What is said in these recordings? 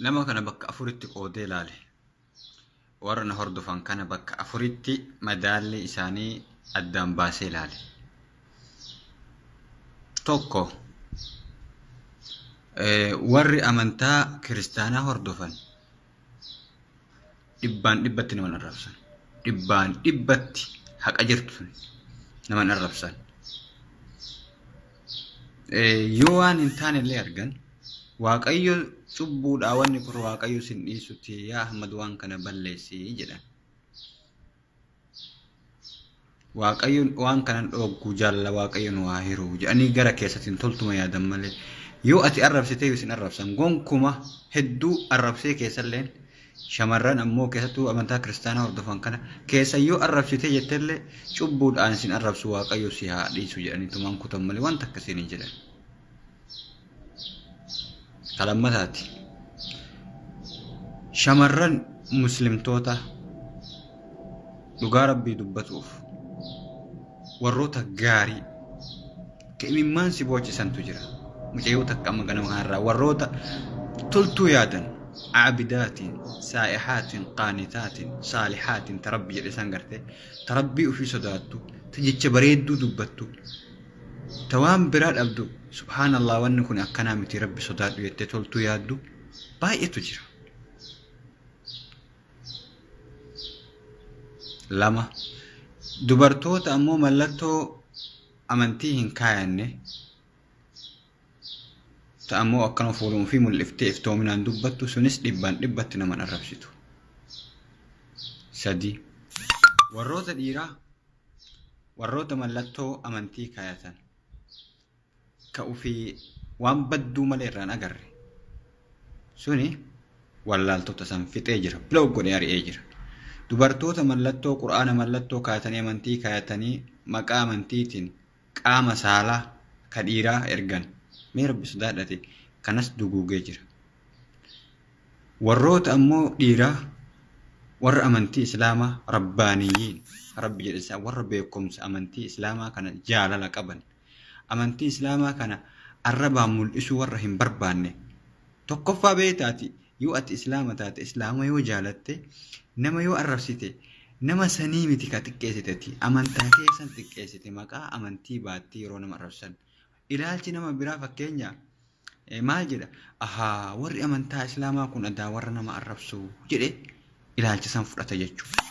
Nama kana bakka afuritti qoodee ilaale. Warra na hordofan kana bakka afuritti madaalli isaanii addaan baasee ilaale. Tokko warri amantaa kiristaanaa hordofan dhibbaan dhibbatti naman arrabsan dhibbaan dhibbatti haqa jirtu naman arrabsan yoo waan hin taane illee argan waaqayyo cubbuudhaa wanni kun waaqayyo sin dhiisutti yaa ahmad waan kana balleessi jedhan waaqayyoon waan kanan dhoogguu jaalala waaqayyoon waa hiruu jedhanii gara keessatiin toltuma yaadan malee yoo ati arrabsitee isin arrabsan gonkuma hedduu arrabsee keessalleen shamarran ammoo keessattuu amantaa kiristaanaa hordofan kana keessa yoo arrabsitee jettellee cubbuudhaan isin arrabsu waaqayyo si haa dhiisu jedhanii tumaan kutan malee wanta akkasiin hin jedhan. Ka lammataati. Shamarran muslimtoota dhugaa rabbii dubbatuuf warroota gaarii ka imimmaan si boochisantu jira. Mucayyoo takka amma ganama kanarraa warroota toltuu yaadan aabidaatiin, saa'ihaatiin, qaanitaatiin, saalihaatiin ta rabbi jedhe san garte ta rabbii ofii sodaattu ta jecha bareedduu dubbattu Ta waan biraa dhabdu subhaanallah wanni kun akkanaa miti rabbi sodaadhu jettee toltuu yaaddu baay'eetu jira. Lama dubartoota ammoo mallattoo amantii hin kaayanne ta ammoo akkana fuuluma ofii mul'iftee iftoominaan dubbattu sunis dhibbaan dhibbatti nama hin arrabsitu. Sadii warroota dhiiraa warroota mallattoo amantii kaayatan ka ufii waan badduu malee irraan agarre suni wallaaltota san fixee jira blow godhee ari'ee jira dubartoota mallattoo qur'aana mallattoo kaayatanii amantii kaayatanii maqaa amantiitiin qaama saalaa ka dhiiraa ergan. Mee Rabbi sodaadhate kanas duguugee jira. Warroota ammoo dhiiraa warra amantii Islaamaa Rabbaaniyyiin ka Rabbi jedhe isaan warra beekumsa amantii Islaamaa kana jaalala qaban, amantii Islaamaa kana arrabaan mul'isuu warra hin barbaanne. Tokkoffaa beeyta ati Yoo ati Islaama taate, Islaama yoo jaalatte, nama yoo arrabsite, nama sanii miti ka xiqqeessite ati. Amantaa kee san xiqqeessite maqaa amantii baattee yeroo nama arrabsan. Ilaalchi nama biraa fakkeenya eh, maal jedha? Ahaa, warri amantaa Islaamaa kun adaa warra nama arrabsu jedhe ilaalcha san fudhata jechuudha.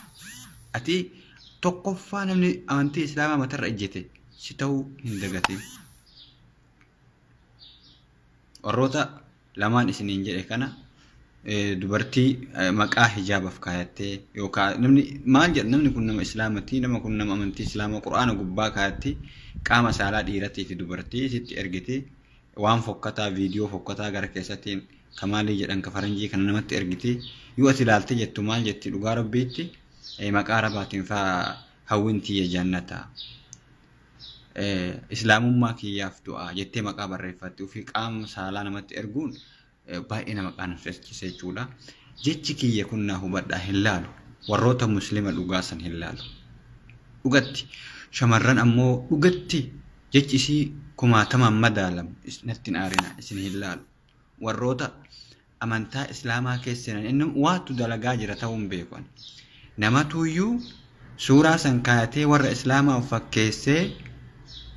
Ati tokkoffaa namni amantii Islaamaa matarra ejjete si ta'uu hin dagatin. Warroota lamaan isiniin jedhe kana dubartii maqaa hijaabaf kaayattee yookaan namni maal jedha namni kun nama islaamati nama kun nama amantii islaamaa qur'aana gubbaa kaayatti qaama saalaa dhiiratii fi dubartii sitti ergiti waan fokkataa viidiyoo fokkataa gara keessattiin kamaalii jedhan ka faranjii kana namatti ergiti yoo ati ilaalte jettu maal jetti dhugaa rabbiitti maqaa rabaatiin faa hawwintii jannata islaamummaa kiyyaaf du'a jettee maqaa barreeffatti ofii qaama saalaa namatti erguun baay'ee nama qaanfachise jechuudha. Jechi kiyya kun naa hubadhaa hin laalu. Warroota muslima dhugaa san hin laalu. Dhugatti shamarran ammoo dhugatti jechi isii kumaatamaan madaalamu natti hin aarina isin hin laalu. Warroota amantaa islaamaa keessa seenan inni waatu dalagaa jira ta'uu hin beeku ani. namatuuyyuu suuraa san kaayatee warra islaamaa of fakkeessee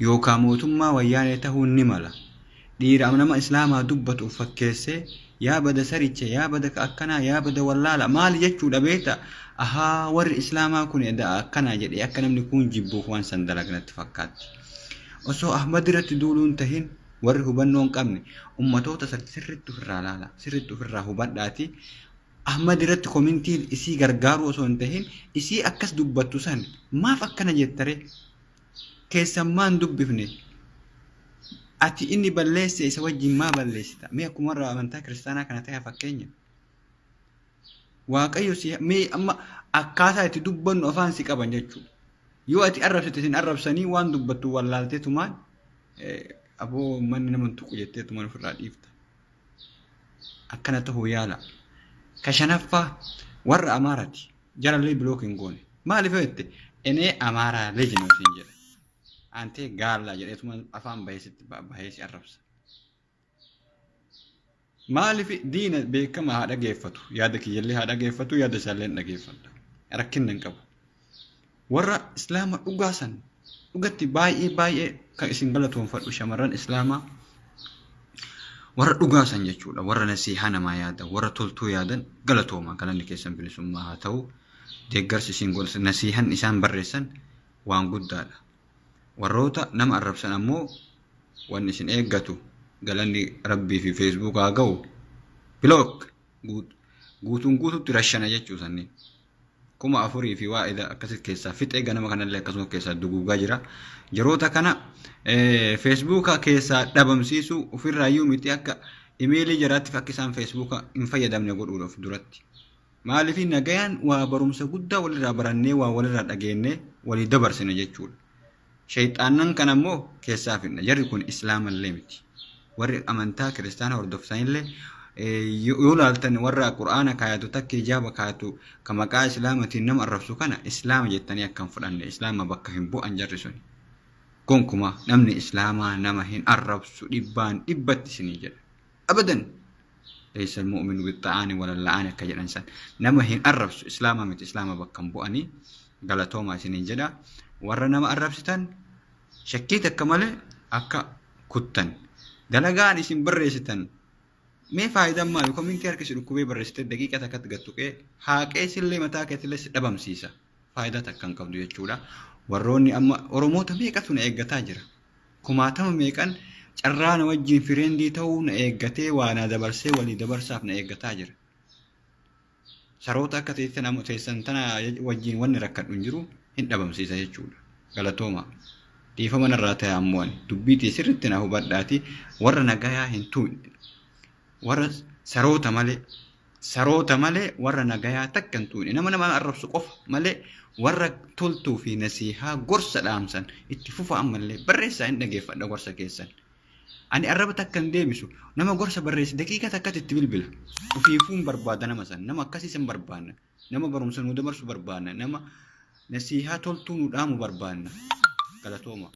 yookaan mootummaa wayyaanee ta'uu ni mala dhiira nama islaamaa dubbatu of fakkeessee yaa bada saricha yaa bada ka akkanaa yaa bada wallaala maali jechuudha beekta ahaa warri islaamaa kun edaa akkanaa jedhee akka namni kun jibbuuf waan san dalagnatti fakkaatti osoo ahmad irratti duuluun tahin Warri hubannoo hin qabne ummatoota san sirriitti ofirraa laala. Sirriitti ofirraa hubadhaati. Ahmad irratti komintiin isii gargaaruu osoo hin tahin isii akkas dubbattu san maaf akkana jettare keessan maan dubbifne ati inni balleesse isa wajjin maa balleessita mee akkuma warra amantaa kiristaanaa kana ta'e fakkeenya waaqayyo si mee amma akkaataa itti dubbannu afaan si qaban jechuudha yoo ati arrabsite isin arrabsanii waan dubbattu wallaaltee tumaan Aboo manni nama hin tuqu jettee tuman ofirraa dhiifta. Akkana ta'uu yaala. Ka shanaffaa warra Amaaraati. Jarallee bilook hin goone. Maaliif yoo jette enee Amaaraa leejinoo siin jedha. Antee gaallaa jedhee tuman afaan baheesitti baheesi arrabsa. Maaliif diina beekama haa dhageeffatu yaada kiyyallee haa dhageeffatu yaada isaallee hin dhageeffadha rakkinna hin qabu. Warra islaama dhugaa san dhugatti baay'ee baay'ee kan isin galatoonfadhu shamarran islaamaa warra dhugaa san jechuudha warra nasiihaa namaa yaadan warra toltuu yaadan galatooma galanni keessan bilisummaa haa ta'u deeggarsi isin godhan nasiihan isaan barreessan waan guddaadha. Warroota nama arrabsan ammoo wanni isin eeggatu galanni Rabbii fi Facebook haa ga'u. Block guut- guutuun guututti rashana jechuu sanni. Kuma afurii fi waa ida akkasitti keessaa fixee ganama kanallee akkasuma of keessaa duguugaa jira. Jaroota kana eh, Facebook keessaa dhabamsiisuu ofirraayyuu miti akka imeelii jaraattiif akka isaan Facebook hin fayyadamne godhuudha of duratti. Maaliif nagayaan waa barumsa guddaa walirraa barannee waa walirraa dhageennee walii dabarsina jechuudha. Shayxaannan kana immoo keessaa fidna. Jarri kun islaamallee miti. Warri amantaa kiristaana hordoftanillee yoo laaltan warra qur'aana kaayatu takka hijaaba kaayatu ka maqaa islaamatiin nama arrabsu kana islaama jettanii akka hin fudhanne islaama bakka hin bu'an jarri sun. Gonkumaa namni islaamaa nama hin arrabsu dhibbaan dhibbatti isinii jedha. abadan laysa almu'minu bixxa'aani walalla'aani akka jedhan san nama hin arrabsu islaama miti islaama bakka hin bu'anii galatoomaa isiniin jedha warra nama arrabsitan shakkii takka malee akka kuttan dalagaan isin barreessitan mee faayidaan maali komintii harki si dhukkubee barreessitee daqiiqa takkatti gattuqee haaqee sillee mataa keetillee si dhabamsiisa faayidaa takka hin qabdu jechuudha warroonni amma oromoota meeqatu na eeggataa jira Kumaatama meeqan carraa na wajjin fireendii ta'uu na eeggatee waa naa dabarsee walii dabarsaaf na eeggataa jira. Saroota akka teessan tana wajjin wanni rakkadhu hin jiru hin dhabamsiisa jechuudha. Galatooma. Dhiifama narraa ta'e ammoo ani dubbii tee sirriitti na hubadhaati warra nagayaa hin tuuqne. Warra saroota malee saroota malee warra nagayaa takka hin tuqne nama nama arrabsu qofa malee warra toltuu fi nasiihaa gorsa dhaamsan itti fufa ammallee barreessaa hin dhageeffadha gorsa keessan ani arraba takka hin deebisu nama gorsa barreessi daqiiqa takkatti itti bilbila ofiifuun barbaada nama san nama akkasii san barbaanna nama barumsa nuu dabarsu barbaanna nama nasiihaa toltuu nu dhaamu barbaanna galatooma.